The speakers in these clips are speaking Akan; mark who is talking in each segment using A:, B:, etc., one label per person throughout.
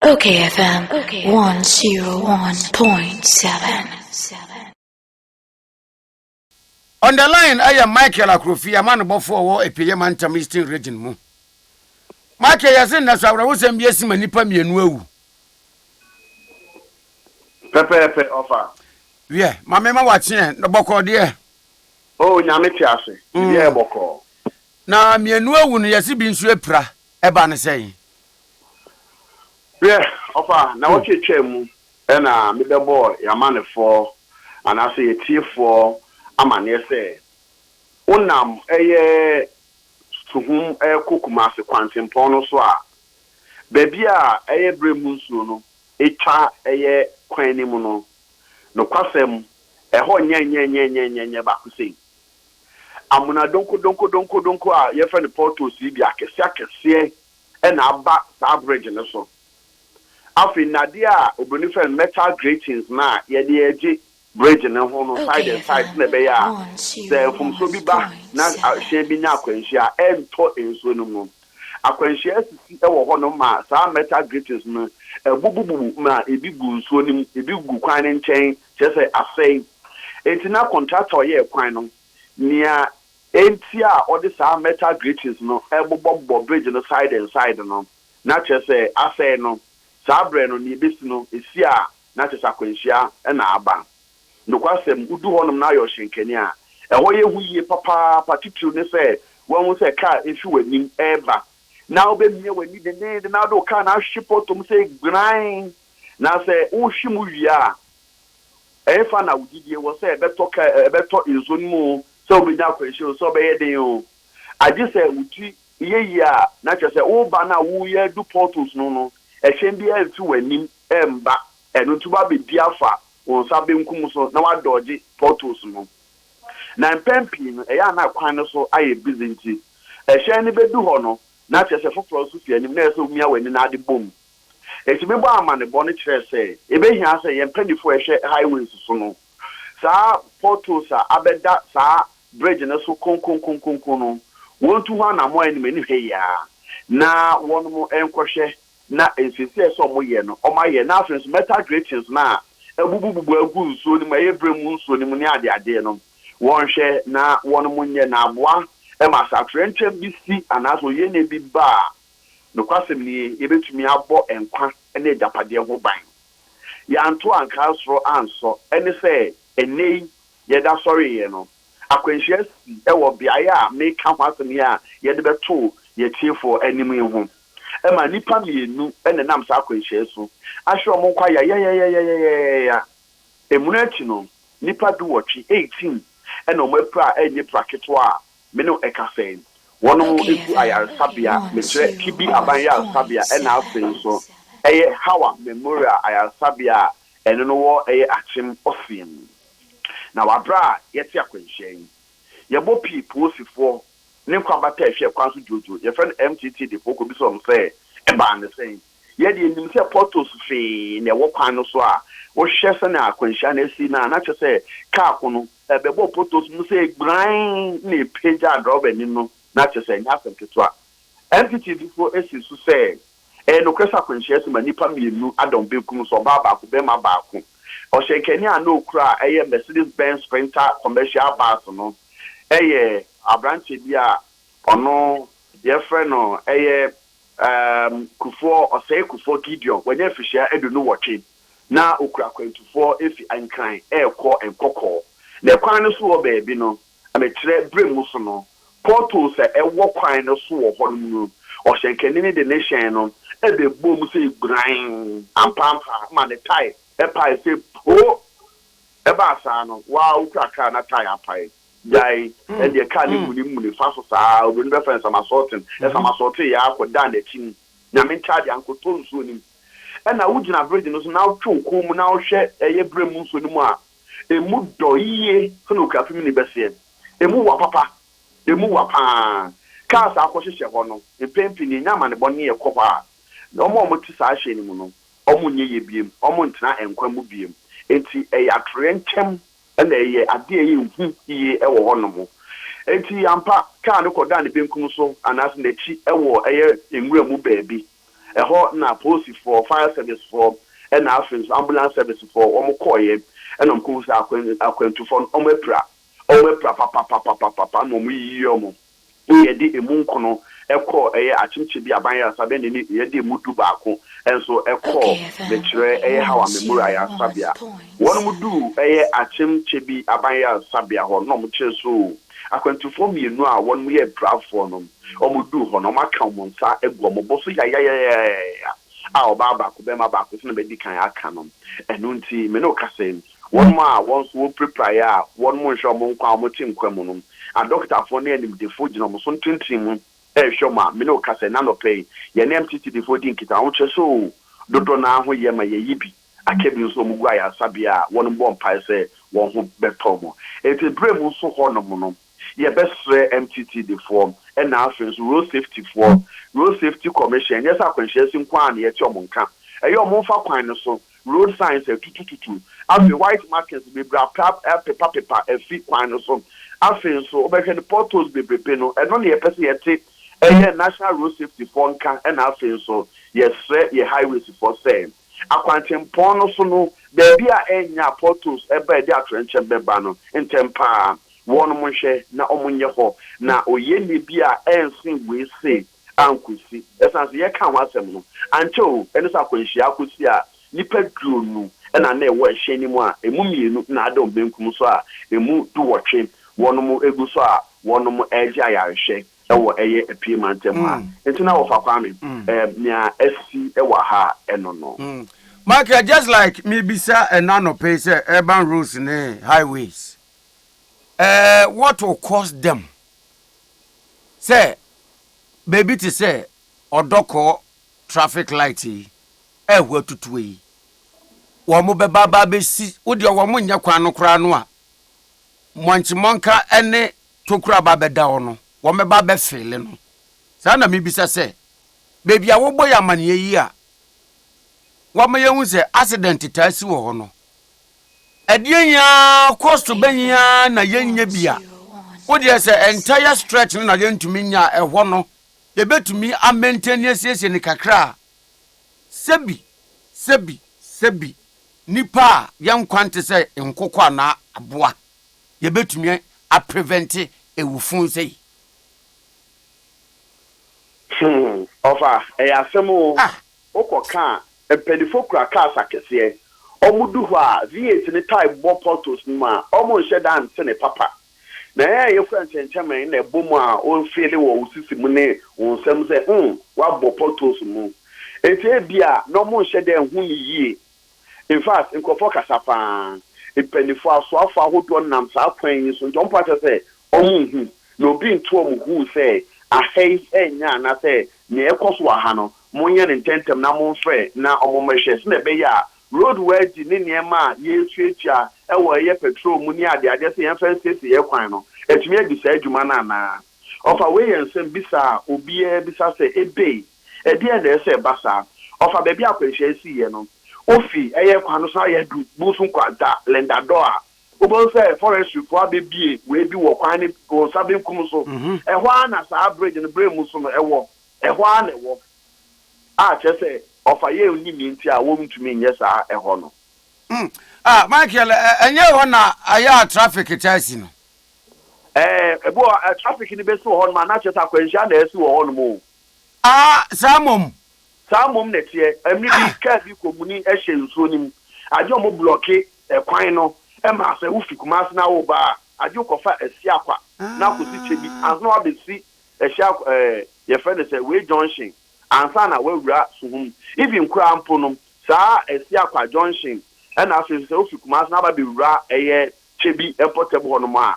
A: Okay FM 101.7. On the line ɛyɛ Michael Akrofi amanobɔfoɔ ɔwɔ Epieye Mantam Eastern Region mu. Michael yɛse nnɛ so awerɛhosɛm bi asi ma nnipa mmienu awu.
B: Pɛpɛɛpɛ ɔfa. Wiɛ, ma
A: me ma wakyeɛ, na bɔkɔɔ deɛ. Oh, nyame
B: te ase, biribiara yɛ mm. bɔkɔɔ. Na mmienu
A: awu no yɛse bi nso apira. Ɛbaa no sɛn? Hwɛ,
B: ɔfa nnawɔtwe twaa mu na mebɛbɔɔ yɛn amannefoɔ anaasɛ yɛn atiefoɔ amanneɛ sɛ wonam ɛyɛ Suhum rekɔ Kumasi kwantempɔn no so a, baabi a ɛyɛ berɛ mu nsuo no twa ɛyɛ kwan no mu no, nokwasɛm, ɛhɔ nyɛ nyɛ nyɛ nyɛ nyɛ nyɛ baako sei. Amona donkodonkodonkodonko a wɔfrɛ no potholes yi deɛ akɛseakɛseɛ na aba saa bridge no so. Afei nnadeɛ a obroni frɛ no metal gratings no a yɛde regye bridge no ho no side and side sɛdeɛ ɛbɛyɛ a sɛ mfomsoɔ bi ba na hyɛn bi nya akwanhyia a ɛntɔ nsuo no mu. Akwanhyia asisi wɔ hɔnom ma saa metal gratings no abubububu ma ebi gu nsuo no mu, ebi gu kwan no nkyɛn kyerɛ sɛ asɛe. Enti na kɔntrakta a ɔyɛɛ kwan no, nea enti a ɔde saa metal gratings no bobɔbobɔ bridge no side and side no, na kyerɛ sɛ asɛe no. Saa bere no, nea ebesi no, esi a, na kyerɛ sɛ akwanhyia na aba. Nokwasɛm, wudu hɔnom na ayɛ ɔhyɛnkani a, ɛhɔ yɛ hu yiye papaapa, titiriw ne sɛ woahu sɛ kar refi w'anim reba, na wubemia w'ani denneennen na wode wo kar no ahwehwe pɔtɔ mu sɛ gbiran. Na sɛ wohwe mu wie a, ɛhefa na wo gyidie wɔ sɛ ɛbɛtɔ ka ɛ, ɛbɛtɔ nsuo no mu o, sɛ wobɛnya akwanhyia o, sɛ ɔbɛyɛ den o? Agye sɛ wo ti yɛ yie a, na kyerɛ sɛ woreba no a woreyɛ adu portals no no, ɛhyɛn biara mfi w'anim mba, ɛno nti wobɛabɛdi afa wo nsa benkum so na woadɔɔgye portals no. Na mpɛn pii no, ɛyɛ a na kwan no so ayɛ busy nti, ɛhyɛn no bɛdu hɔ no, na kyerɛ sɛ foforɔ nso fi anim, na ɛsɛ sɛ womia w'ani na ade bɔ mu. Enti mebɔɔ amanebɔ no kyerɛɛ sɛ ebehia sɛ yɛn mpanyimfo a ɛhwɛ highways so no saa potholes a abɛda saa bridge no so konkonkonkonko no wontu ho anammɔn anim anihwɛ yi ara na wɔnom nkɔhwɛ na nsiesie a ɛsɛ sɛ wɔyɛ no wɔayɛ na afei nso metal gratings no a abubububu agu nsuo no mu ɛyɛ berɛ mu nsuo no mu ne adeadeɛ no wɔnhwɛ na wɔnom nyɛ na aboa ma saa torɛnkyɛm bi si anaasɛ oyienie bi ba a Nokwasɛm nie, yɛbɛtumi abɔ nkwa ne agyapadeɛ ho ban. Yɛanto ankaa soro ansɔ, ɛne sɛ, ɛnnɛ yi yɛda sɔreeɛ no, akwanhyia asi wɔ beaeɛ a meka ho asɛm yi a yɛde bɛto yɛatiefoɔ anim yi ho. Ɛma nnipa mmienu na ɛnam saa akwanhyia yi so ahwe wɔn nkwa yayayayayayaya. Ɛmono akyi no, nnipa duwɔtwe, eighteen, na wɔapira a ɛnyɛ pira ketewa a Me no ɛka sɛn? Wɔnom gu ayaresabea, mekyerɛ Kibi Aban Yaresabea ɛna afei nso ɛyɛ Hawa Memorial Ayaresabea a ɛno no wɔ ɛyɛ Akyem Ɔsea mu. Na wɔ aberɛ a yɛte akwanhyia yi, yɛbɔ pii poosifoɔ ne nkwabata a ɛhwɛ kwan so dwoodwoo, yɛfrɛ no MTT defoɔ kɔbisa wɔn sɛ ɛbaa no sɛn? Yɛn deɛ yɛnim sɛ potholes fee na ɛwɔ kwan no so a wohwɛ sɛnea akwanhyia no asi no a, na kyerɛ sɛ kaa ko no bɛbɔ potholes no sɛ gburann na ɛpagyaa drɔbani no, na kyerɛ sɛ ɛnyɛ asɛm ketewa. NPTVfo si so sɛ ɛyɛ nokorɛ sɛ akwanhyia asi ma nnipa mmienu ada wɔn benkum so, ɔbaa baako, barima baako. Ɔhyɛnkani a na ɔkura a ɛyɛ Mercedes Benz Sprinter commercial bus no yɛ aberanteɛ bi a ɔno yɛfrɛ no ɛyɛ Erm kufoɔ ɔsɛe kufoɔ Gideon wanya mfirihyia aduonu nnwɔtwe na ɔkura akwantufoɔ ɛfi Nkran ɛrekɔ Nkɔkɔɔ na kwan no so wɔ baabi no mekyerɛ berɛ mu so no potholes a ɛwɔ kwan no so wɔ hɔ nom no ɔhyɛnkanini de ne hyɛn no ɛbɛbɔ mu sɛ gburann ampaampa ma ne tae ɛpae sɛ poo ɛbaa saa no waa ɔkura car na tae apae. Gyae, ɛndeɛ kaa ne munimmuni fa so saa ara, obironi bɛfa nsamasɔɔten, nsamasɔɔten yɛ ara kɔdaa n'akyi mu, Nyame nkyaadeɛ, ankɔtɔ nsuo anim. Ɛna wogyina bridge no so na wotwe wo kɔn mu na wohwɛ ɛyɛ berɛ mu nsuo no mu a, ɛmu dɔ yie sɛdeɛ okuafimini bɛseɛ. Ɛmu wa papa, ɛmu wa pa ara. Cars a wɔakɔhyehyɛ hɔ no, mpɛn pii no yɛnya amanebɔ ne yɛkɔ hɔ a, wɔn a wɔte saa hyɛn no mu no, wɔnyɛ yie bio, wɔntena nkwa mu bio. Enti ɛyɛ atoyerɛnkyɛm Ɛna ɛyɛ ade a ɛyɛ hu yiye wɔ hɔnom. Enti, ampa, kar no kɔdaa ne benkum so, anaasɛ n'akyi, wɔ ɛyɛ nwura mu baabi. Ɛhɔ na polisifo, fire sɛvisefo, ɛna afei nso ambulance sɛvisefo, wɔkɔeɛ, ɛna wɔkɔhuu sɛ akwan, akwantufo no, wɔapira. Wɔapira papapapapapa, ɛna wɔyiyii wɔn. Bere a yɛde emu nkono kɔɔ ɛyɛ akyemkyɛ bi aban yasa bɛn ne ne yɛde emu du baako nso kɔɔ mekyerɛ ɛyɛ Hawa Memorial Yasabea. Wɔnom duu ɛyɛ akyemkyɛ bi aban yasabea hɔ na wɔn kyerɛ soo akwantufoɔ mmienu a wɔnom yɛ apirafoɔ no. Wɔn duu hɔ no wɔn aka wɔn nsa agu wɔn bo so yayayayayaya a ɔbaa baako bɛɛma baako sɛnea madi kan aka no. Ɛno nti me ne wo kasa yi Wɔnom a wɔn nso wɔpirapiraeɛ a wɔnom nhwɛ wɔn nkwa a wɔte nkwa mu no, adɔkotafoɔ ne animdefoɔ gyina wɔn so ntentene mu rehwɛ wɔn a, me ne wo ka sɛ, nnɛ anɔpa yi, yɛne MTTDfoɔ di nkitaho, kyerɛ sɛ oo, dodɔ no ara ho yɛ ma yɛyi bi, aka bi nso wɔgu ayaresabea a wɔnom bɔ mpaeɛ sɛ wɔn ho bɛtɔ wɔn. Enti berɛ mu nso hɔnom no, Yɛbɛsrɛ MTTDfoɔ na afei nso Road Safety foɔ, Road Safety Commission, ɛnyɛ sɛ akwanhyia asi nko ara na yɛte wɔn nka. Ɛyɛ wɔn mfa kwan no so road signs atutututu, afei white markings bebree apra apepapepa afi kwan no so. Afei nso wobɛhwɛ no potholes bebrebe no, ɛno na yɛpɛ sɛ yɛte ɛyɛ National Road Safety foɔ nka na afei nso yɛsrɛ yɛn Highways foɔ sɛ, Akwantempɔn no so no, baabi a ɛnyɛ apotos ba a ɛde atoyerɛnkyɛm bɛba no, ntɛm pa ara, wɔnom nhwɛ na wɔnyɛ hɔ, na oyieyɛ bi a ɛnsen wei se ankosi. Ɛsiane sɛ yɛkaa ho asɛm no ankyɛ oo, ɛne sɛ akwanhyia akosi a, nnipa duonu na na ɛwɔ ɛhyɛn no mu a ɛmu mmienu na ada wɔn benkum so a ɛmu duwɔtwe wɔnom gu so a wɔnom regye ayarehwɛ. ɛwɔ ɛyɛ apue mantam ha nti na wɔfa Kwame ɛɛm nea asi ɛwɔ ha ɛno no. Michael just
A: like me bisa ɛna nɔpɛ sɛ urban roads ne highways ɛɛ what will cause them sɛ baabi te sɛ ɔdɔkɔ traffic light yi ɛɛhu atutuo yi wɔn bɛba aba abɛsi wodeɛ wɔn nyɛ kwan no koraa no a mɔnkye mɔnka ɛne tokura ba bɛda hɔ no, wɔbɛba abɛfeele no. Saa na mibisa sɛ, baabi a wɔbɔ yɛn amanneɛ yi a wɔama yɛahu sɛ asedɛnte taa si wɔ hɔ no, ɛdeɛn ara kɔ so bɛn ara na yɛnnya bi a, wo deɛ sɛ entire stretch no na yɛntumi nnya a, ɛhɔ no, yɛbɛtumi amaintani asiesie no kakra a, sɛbi, sɛbi, sɛbi, nnipa a yɛn nkwa nte sɛ nkokɔ anaa aboa. yɛbɛtumi a prevente awufun sei?
B: Hmm, ɔfa, ɛyɛ asɛm o. Ah! Wokɔ ka a, mpanyinfoɔ kura cars akɛseɛ. Wɔn du hɔ a, V8 no taa bɔ potholes no mu a, wɔn nhyɛ da nte ne papa. Na yɛn a yɛkura nkyɛnkyɛnmɛn na ɛbɔ mu a, wo feele wɔ wo sisi mu ne wo nsam sɛ, hmm, woabɔ potholes mu. Enti ebia na wɔn nhyɛ da nhu no yie In fact, nkurɔfoɔ kasa pa ara. Mpanimfoɔ, asoafoɔ ahodoɔ nam saa kwan yi so nti wɔmpa kyɛ sɛ wɔnhu, na obi nto wɔn hu sɛ aha yi ɛnyɛ anaasɛ nea ɛrekɔ so wɔ ha no, monyɛ no ntɛmntɛm na momfrɛ na wɔmmɛhwɛ sɛdeɛ ɛbɛyɛ a road worthy ne nneɛma a yɛretuatua wɔ ɛyɛ patrol mu ne adeadeɛ sɛ yɛmfa nsiesie yɛn kwan no atumi adi saa adwuma no anaa. Ɔfa wei yɛ nsɛmmisa a obiara bisa sɛ ebei. Ɛdeɛn na ɛsɛ sɛ ɛba saa? Ɔfa baabi a akwanhyia yi siiɛ no, wofi ɛyɛ kwan no so ayɛ adu Bunsum Kwanta, Lindadɔ a, wobɛhu sɛ forestryfoɔ abɛbue wei bi wɔ kwan no wo nsa benkum so. Ɛhɔ ara na saa bridge no berɛ mu so no ɛwɔ. Ɛhɔ ara na ɛwɔ. A kyerɛ sɛ Ɔfa yɛ onyini nti a wɔntumi nyɛ saa ɛhɔ no. Hmm. Ah,
A: Michael, ɛ, ɛnyɛ hɔ na ayɛ a traffic taa si no? Ɛɛ,
B: ebi wɔ hɔ a, traffic no bɛsi wɔ hɔnom a, na kyerɛ sɛ akwanhyia na asi wɔ hɔnom o. Aa, saa mmom! Saa mmom na ɛteɛ. Ɛmere bi, kaa bi kɔ muni hyɛ nsuo no mu. Agye wɔn blɔke kwan no ma sɛ wo fi Kumasi na wo ba a, agye wo kɔ fa Asiakwa na akɔ si Kyebi ansa na wabɛ si Asiak ɛɛ yɛ frɛ no sɛ wei junction ansa na wawura Suhum. Even koraa mpo no, saa Asiakwa junction ɛna afei nso sɛ wo fi Kumasi na aba bɛ wura ɛyɛ Kyebi mpɔtam hɔ nom a,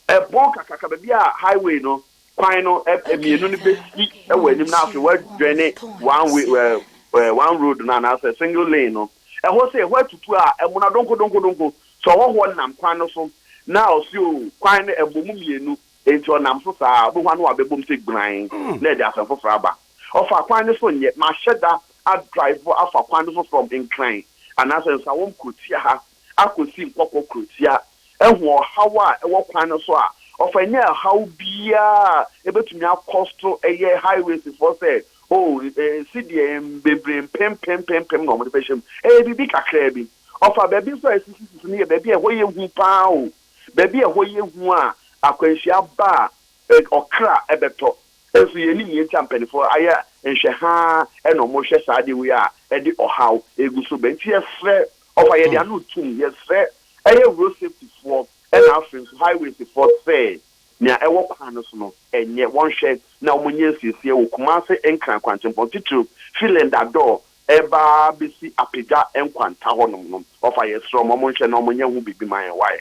B: ɛbɔn kakraka baabi a highway no kwan no mmienu no bɛsi wɔ anim na afei woadwane one way ɛɛ ɛɛ one road no anaasɛ single lane no ɛhɔ sɛ ɛhɔ atutu a ɛmona donkodonkodonko sɛ ɔhɔhoɔ nam kwan no so na ɔsi o kwan no ɛbɔ mu mmienu enti ɔnam so saa a wobɛhu ano a bɛbom sɛ gburan na ɛde asɛm foforɔ aba ɔfa kwan no so nyɛ mahyɛ da adrive afa kwan no so from nkran anaasɛ nsawɔm kuro tia ha akosi mpɔpɔ kurotia. Ehu ɔhaw a ɛwɔ kwan no so a, ɔfa anya ɛhaw biara a ebetumi akɔ so yɛ Highwaysfoɔ sɛ, Oh, sɛdeɛ bebree mpempem mpempem na wɔde bɛhyɛ mu. Ɛyɛ biribi kakraa bi. Ɔfa baabi nso a esisisisi no yɛ baabi a ɛhɔ yɛ hu pa ara o. Baabi a ɛhɔ yɛ hu a akwanhyia ba a, ɔkra bɛtɔ. Nso yennim nea enti a mpanimfoɔ ayɛ nhwɛhaa na wɔrehwɛ saa adeɛ wei a ɛde ɔhaw gu so ba. Enti yɛsrɛ Ɔfa yɛde ano tum yɛsrɛ ɛyɛ road safety foɔ ɛna afei nso highways foɔ sɛ nea ɛwɔ kwan no so no ɛnyɛ wɔnhwɛ na wɔn nyɛ nsiesie wɔ Kumase Nkran kwankyɛmpɔn titiriw fi Lendador ɛba bɛsi Apegya nkwanta hɔ nom no ɔfa yɛsrɛ wɔn wɔn nhwɛ na wɔn nyɛ ho biribi ma yɛn wai.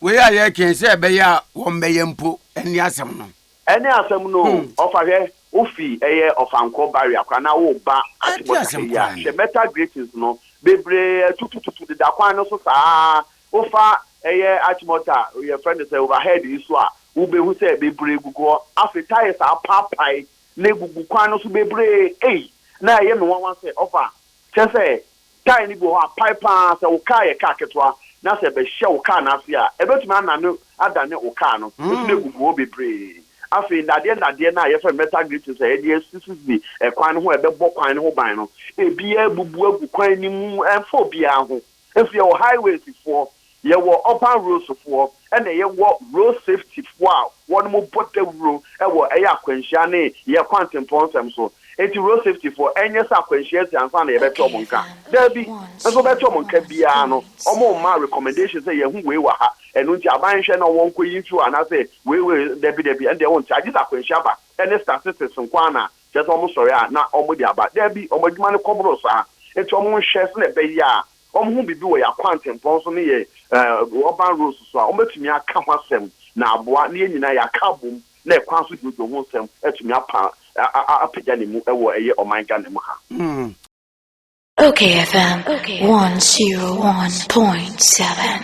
B: Wei a
A: yɛreka yi sɛ ɛbɛyɛ a wɔn bɛyɛ mpo ɛnne asɛm no. Ɛne asɛm no o.
B: Ɔfa hwɛ, wo fi ɛyɛ Ɔfankɔ barrier koraa na wo ba atebɔ taha yi a, hwɛ metal gratings no bebree atutututu deda kwan no so saa. Wo fa ɛyɛ atebɔ ta, yɛfrɛ no sɛ overhead yi so a, wo behu sɛ bebree gugu hɔ. Afei tyres a apaapae na egugu kwan no so bebree ei, na ɛyɛ me nwanwa sɛ, Ɔfa, kyerɛ sɛ Tae no bi wɔ hɔ a, pae pa ara. Sɛ wo kaa yɛ kaa ketewa na sɛ ɛbɛhyɛ wo kaa no ase a, ɛbɛtumi anane adane wo kaa no. Ɛtumi agugu hɔ bebree. Afei, nnadeɛ nnadeɛ no a wɔfrɛ no metal gratings a wɔde asisisisi kwan no ho a ɛbɛbɔ kwan no ho ban no, ebiara abubu agu kwan no mu. Ɛmfa obiara ho. Afei, yɛwɔ highways foɔ. Yɛwɔ urban roads foɔ ɛna yɛwɔ road safety foɔ a wɔn mo bɔ dawuro wɔ ɛyɛ akwanhyia ne yɛ kwantempɔn nsɛm so. Nti road safety foɔ ɛnyɛ sɛ akwanhyia asi ansa na yɛbɛte wɔn nka. Daabi, nso wɔbɛte wɔn nka biara no wɔn mma recommendation sɛ yɛhu wei wɔ ha, ɛno nti aban nhwɛ na wɔn nkɔ yi mfi hɔ anaasɛ wei wei dabi dabi ɛno deɛ wonte agye sɛ akwanhyia ba ɛne statistics nko ara na kyerɛ sɛ wɔn sɔre a na wɔn de aba. Daabi, wɔn adwuma no kɔ boro saa. Nti wɔn nhwɛ sɛdeɛ ɛbɛyɛ a wɔhu biribi wɔ yɛn akwantempɔn so ne yɛn urban roads so a, wɔbɛtumi aka ho asɛm na aboa na yɛn nyinaa yɛaka abom na ɛkwan so dwoodwoo ho nsɛm atumi apa apagya ne mu wɔ ɛyɛ ɔman Ghana mu ha. Ok FM one
C: zero one point seven.